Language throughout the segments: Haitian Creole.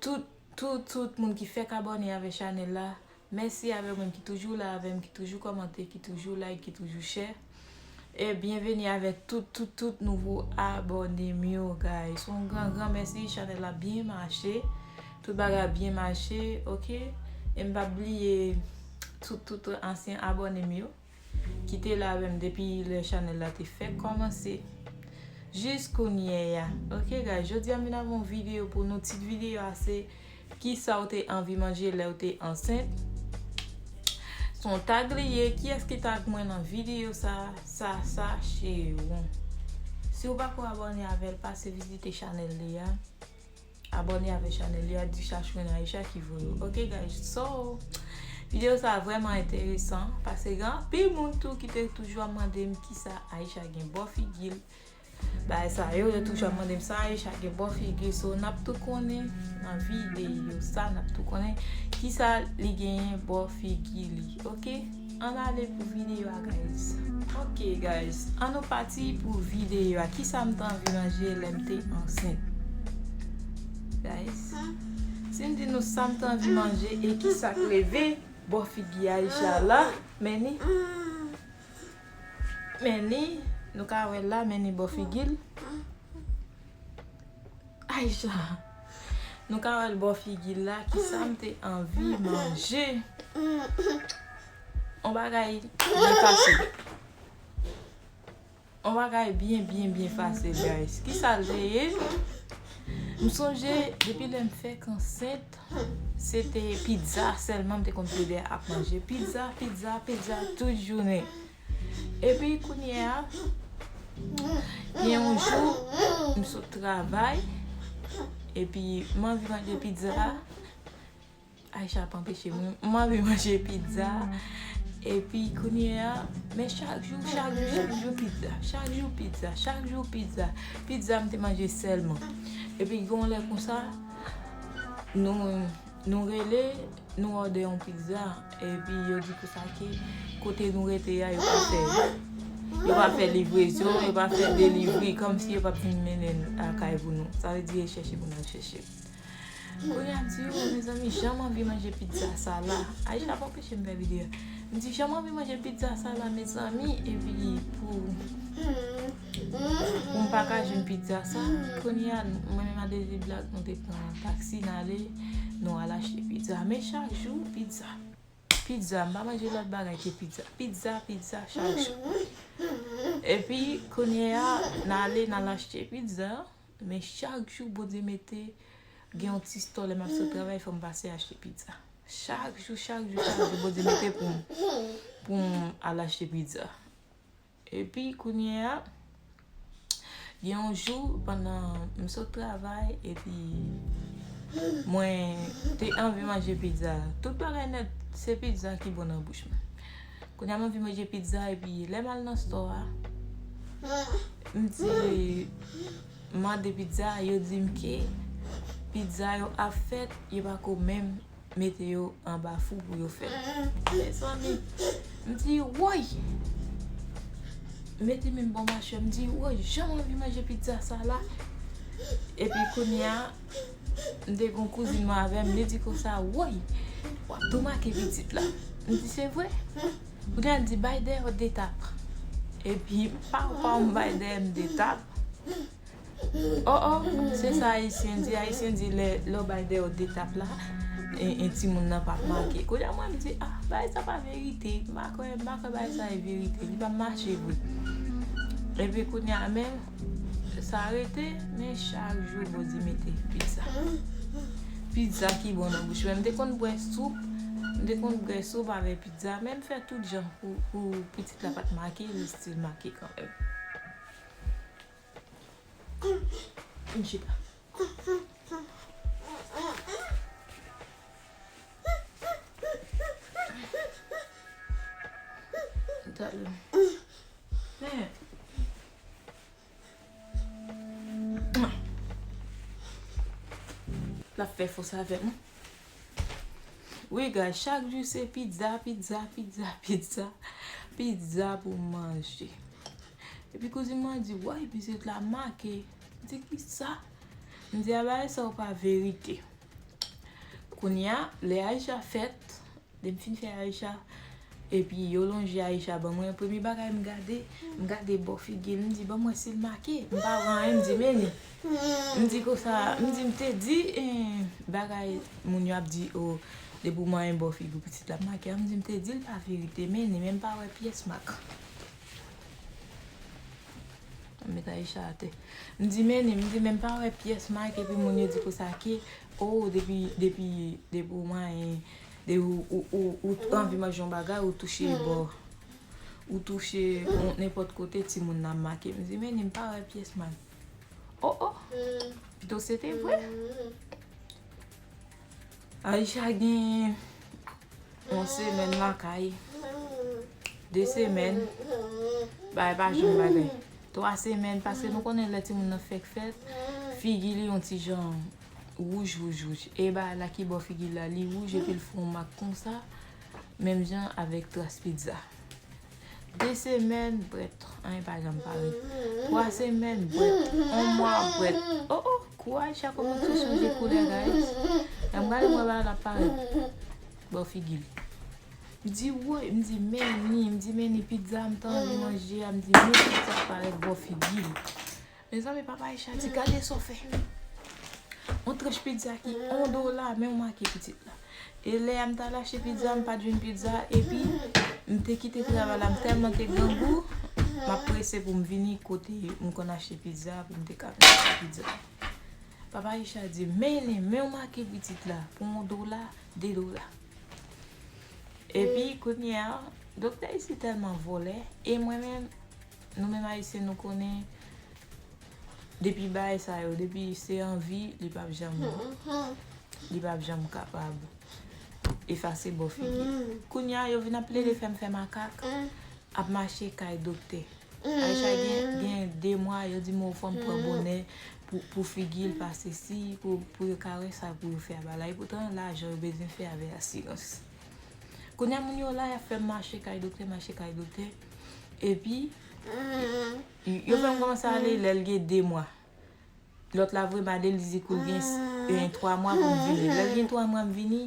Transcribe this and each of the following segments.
Tout tout tout moun ki fèk abòne avè chanèl la mèsi avè moun ki toujou la avèm ki toujou kòmante ki toujou like ki toujou chè e byenveni avè tout tout tout nouvo abònem yo guys yon gran gran mèsi chanèl la byen mache tout bagay ap byen mache ok em pap bliye tout tout ansyen abònem yo. Kite la avèm depi lè chanèl la te fèk kòmanse Jis kounyè ya Ok guys jodi a m vin avè yon videyo pou nou Tit videyo a se Kisa ou te anvi manje lèw te ansent Se yon tag li ye Kiyès ki tag mwen nan videyo sa Sasa Cheron Si ou pako abòne avèl pase vizite chanèl li a. Abone avè chanel li a di chachwin Aisha ki voye w ok guys so video sa vreman enteresan pase gen anpil moun tou ki te toujou ap mande m kisa Aisha gen bo figi l bagay sa yo yo toujou ap mande m sa Aisha gen bo figi l so nap tou konnen nan video sa nap tou konnen kisa li genyen bo figi li ok. Ann ale pou videyo a guys. Ok guys an nou pati pou videyo a kisa m t anvi manje lè m te ansent guys si m di nou sa m t anvi manje e kisa k leve bò figi Aïcha la men ni men ni nou ka wè l la men ni bò figi l Aïcha. Nou ka wèl bò figi l la kisam te anvi manje on bagay byen pase on bagay byen byen byen pase guys kisal te ye m sonje depi lèm fèk ansent se te pizza sèlman m te konn plede ap manje pizza pizza pizza tout jounen. Epi kounye a, gen yon jou, m sot travay, epi m anvi manje pizza. Aisha ap anpeche m. M anvi manje pizza. Epi kounye a, men chak jou, chak jou, chak jou pizza. Chak jou pizza, chak jou pizza. Pizza m te manje sèlman. Epi gen yon lè konsa, nou... Nou rele, nou òdè yon pizza, epi yo di pou sa ke kote nou rete a, yo pa fè. Yo pa fè livrezon, yo pa fè delivri, kòm si yo pa vin mennen lakay pou nou. Sa vle di e chèche pou nan chèche. Kounye a m di yo, mezanmi, jan m anvi manje pizza sa la. Aisha pa anpeche m fè videyo. M di jan m anvi manje pizza sa la, mezanmi, epi pou. Poum paka jwenn pizza sa Kounye a mwen menm a Dezi Black nou te pran taxi nale Nou al achte pizza Men chak jou pizza Pizza m pa manje lòt bagay ke pizza Pizza pizza chak jou Epi kounye a nale nal achte pizza Men chak jou Bondye mete Gen yon ti stò lèm ap sot travay fòm pase achte pizza Chak jou chak jou chak jou Bondye mete poum Poum al achte pizza Epi kounye a, gen yon jou pandan m sot travay epi mwen te anvi manje pizza. Tout bagay nèt se pizza ki bon nan bouch mwen. Kounye a m anvi manje pizza epi lè m al nan stò a, m di m mande pizza, yo di m ke pizza yo ap fèt, yo pa ko menm. mete yo anba fou pou yo fèt. Mezanmi! M di, woy! M mete men m bò machwè, m di, woy, jan m anvi manje pizza sa la! Epi kounye a, m te gen yon kouzin mwen avè m, li di konsa, woy! W ap tou make pitit la. M di, se vre? Kounye a, l di, bay dèyè w de tap. Epi, pa w pa w m bay dèyè m de tap. Oh oh se sa ayisyen di ayisyen di lè lè w bay deyò de tap la en timoun nan pap manke kounye a mwen m di ah bagay sa pa verite m pa kwè m pa kwè bagay sa e verite li pa mache vre epi kounye a men sa rete men chak jou bondye mete pizza pizza ki bon nan bouch mwen m te konn bwè soup m te konn bwè soup avè pizza men m fè tout jan pou pitit la pat make li stil make kanmèm. Vin chita. La fè fòs avèm. Wi guys, chak jou se pizza, pizza, pizza, pizza. Pizza pou manje. Epi kouzin mwen an di woy pitit la make. M di kisa? M di a bagay sa yo pa verite. Kounye a lè Aïcha fèt, lè m fin fè Aïcha epi yo lonje Aïcha ban mwen premye bagay m gade, m gade bò figi l m di banm wè si l make. M pa wè anyen m di men m di konsa m di m te di bagay moun yo ap di o depi w manyen bò figi w pitit la ap make a m di m te di l pa verite men men m pa wè pyès mak. M met Aïcha atè. M di mennen, m di men m pa wè pyès mak epi moun yo di pou sa ki oh depi depi depi ou manyen ou ou ou anvi manje yon bagay ou touche bò ou touche yon nenpòt kote timoun nan ap make. M di mennen m pa wè pyès mak. Oh oh pito se te vre. Aïcha gen yon semèn lakay, 2 semèn, bagay pa janm bagay. 3 semèn, paske nou konnen lè timoun nan fèk fèt, figi li yon ti jan wouj wouj wouj. E bagay la ki bò figi l la, li wouj epi l fè yon mak konsa, menm jan avèk tras pizza. 2 semèn prèt, anyen pa janm pare. 3 semèn prèt, 1 mwa prèt. O o, kou Aïcha kòmanse chanje koulè guys. Lèm gade mwen ba la pare. Bon figi li. M di woy, m di meni, m di meni pizza m tan anvi manje a, m di meni pizza parèt bon figi li. Mezanmi papa Aisha di gade sa w fè Yon tranch pizza ki 1 dola men w make pitit la E lè a m t al achte pizza m pat jwenn pizza epi m te kite travay la m tèlman te grangou m ap prese pou m vini kote m konn achte pizza pou m te ka vin achte pizza Papa Aisha di mennen men w make pitit la pou 1 dola 2 dola Epi kounye a doktè isi tèlman vòlè e mwen menm Nou menm ayisyen nou konnen depi baay sa yo depi se anvi li pap janm li pap janm kapab efase bò figi kounya yo vin ap plede fèm fè makak ap mache kay doktè Aïcha gen 2 mwa yo di m ou fòm pran bonè pou figil pa se si pou yo ka wè sa pou yo fè a ba la epoutan lajan yo bezwen fè avè asirans kounya moun yo la yap fèm mache kay doktè mache kay doktè. Epi, yo fè m kòmanse ale lè l gen 2 mwa. Lòt la vre mande l, li di kou l gen 3 mwa pou m vini. Lè l gen 3 mwa m vini,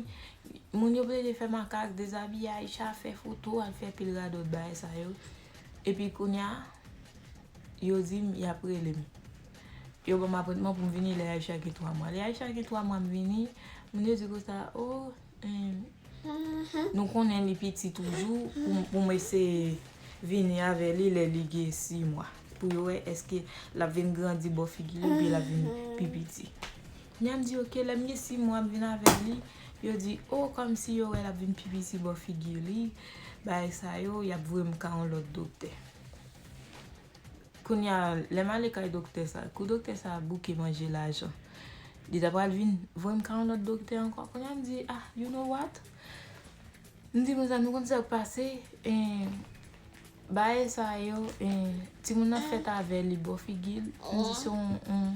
moun yo plede fè makak, dezabiye Aicha, fè foto, al fè pil radòt bagay sa yo. Epi kounye a, yo di m y ap rele m. Yo ban m apwentman pou m vini lè Aicha gen 3 mwa. Lè Aicha gen 3 mwa m vini, moun yo di konsa, o, Nou konnen li piti toujou pou m eseye vini avè li lè li gen 6 mwa. Pou yo wè eske l ap vin grandi bò figi li oubyen l ap vin pi piti. Nya m di ok, lè m gen 6 mwa m vin avè li, yo di o kòmsi yo wè l ap vin pi piti bò figi li, bagay sa yo, y ap voye m ka yon lòt doktè. Kounya lè m ale kay doktè sa, kou doktè sa ap bouke manje lajan, li ta pral vin voye m kay yon lòt doktè ankò. Kounya m di, ah, you know what? M di, mezanmi, ou konn sa k pase? Bae sa yo, timoun nan fèt avè li bò figi l. M di se yon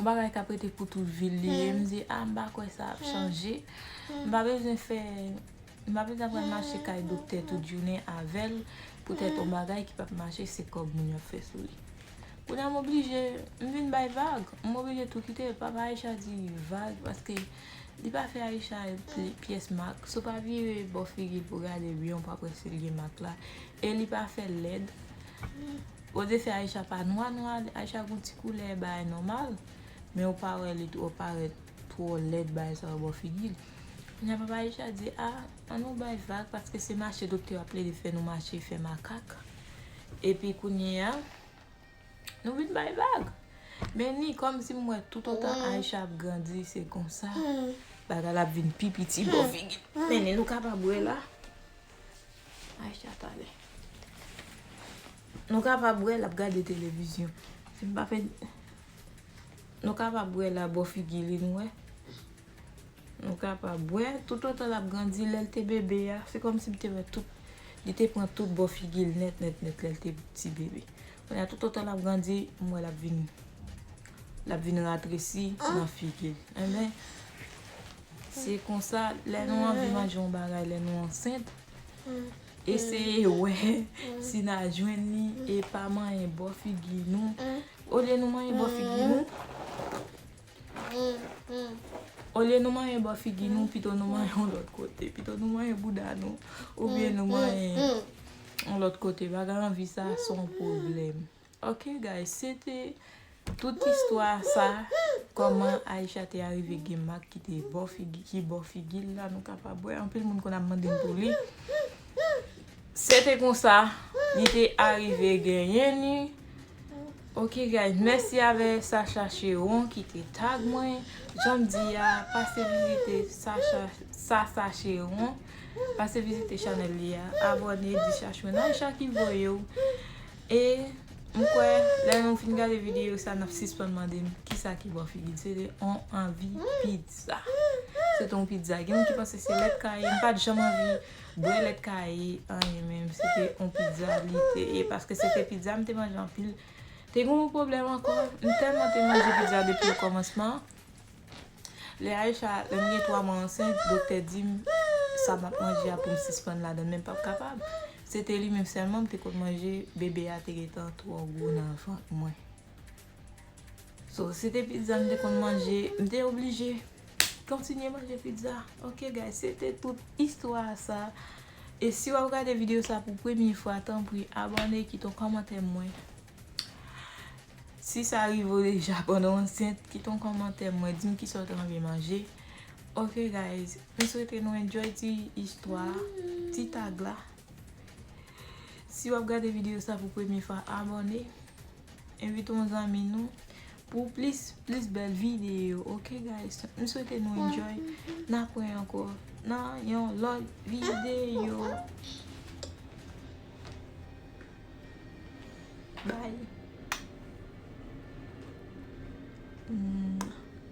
bagay k ap rete pou tout vi l li ye. M di, ah, m pa kwè sa ap chanje. M pa bezwen fè. Mabrida pral mache kay doktè tout jounen avèl poutèt on bagay ki pap mache se kòb moun yo fè sou li kounya m oblije m vin bay vag m oblije tou kite papa Aïcha di vag paske li pa fè Aïcha pyès mak so pa vire bò figil pou gade byen w pa p wè sil gen mak la e li pa fèl lèd o defè Aïcha pa nwa nwa Aïcha gon ti koulè bagay nòmal men w pa wè li twò parèt Twò lèd bay sa yo bò figil. Kounya papa Richard di a an nou bay vag paske se mache doktè ap plede fè nou mache fè makak epi kounyea nou vin bay vag. Men ni kòm si m wè tout otan Aisha ap grandi se konsa bagay la ap vin pi piti bò figil. Men ni nou kapab wè la Aisha pale. Nou kapab wè lap gade televizyon. Si m pa fè. Nou kapab wè la bò figi li nou wè. Nou kapab wè tout otan l ap grandi lè l te bebe a se kòmsi m te wè tout li te pran tout bò figi l nèt nèt nèt lè l te ti bebe. Kounye a tout otan l ap grandi m wè l ap vin l ap vin ratresi nan figi l. Enben se konsa lè nou anvi manje yon bagay lè nou ansent eseye wè si n a jwenn li e pa manyen bò figi nou Olye nou manyen bò figi nou. Olye nou manyen bò figi nou pito nou manyen yon lòt kote. Pito nou manyen bouda nou. Oubyen nou manyen yon lòt kote. Bagay anvi sa son pwoblèm. Ok guys se te tout istwa sa. Koman Aïcha te arive gen mak ki te bò figi l la nou kapab wè. Anpil moun konn ap mande m pou li. Se te konsa li te arive genyen ni ok guys mèsi avè Sacha Cheron ki te tag mwen janm di a pase vizite Sacha Sasa Cheron pase vizite chanèl li a abòne di Chachwen Aïcha ki voyew e m kwè lè nou fin gade videyo sa nap sispann mande m kisa ki bò figil se te on anvi pizza se te on pizza gen moun ki panse se lèt kaye m pat janm anvi Bwè lèt kaye anyen menm se te yon pizza li te ye paske se te pizza m te manje anpil. Te gen yon pwoblèm ankò, m tèlman te manje pizza depi o kòmansman, lè Aïcha, lè m gen 3 mwa ansent, doktè di m sa m ap manje a pou m sispann ladan l men m pap kapab. Se te li menm sèlman m te konn manje, bebe a te gentan twò gwo nan vant mwen. So se te pizza m te konn manje m te oblije kontinye manje pizza ok guys se te tout istwa a sa e si wap gade video sa pou premye fwa tanpri abòne kite yon kòmantè m wè si sa rive w deja pandan w ansent kite yon kòmantè m wè di m kisa w ta renmen manje ok guys m swete nou enjoy ti istwa a ti tag la si wap gade video sa pou premye fwa abòne. Envite yon zanmi nou pou plis plis bèl videyo ok guys. M swete nou enjoy. N ap wè ankò nan yon lòt videyo. Bye.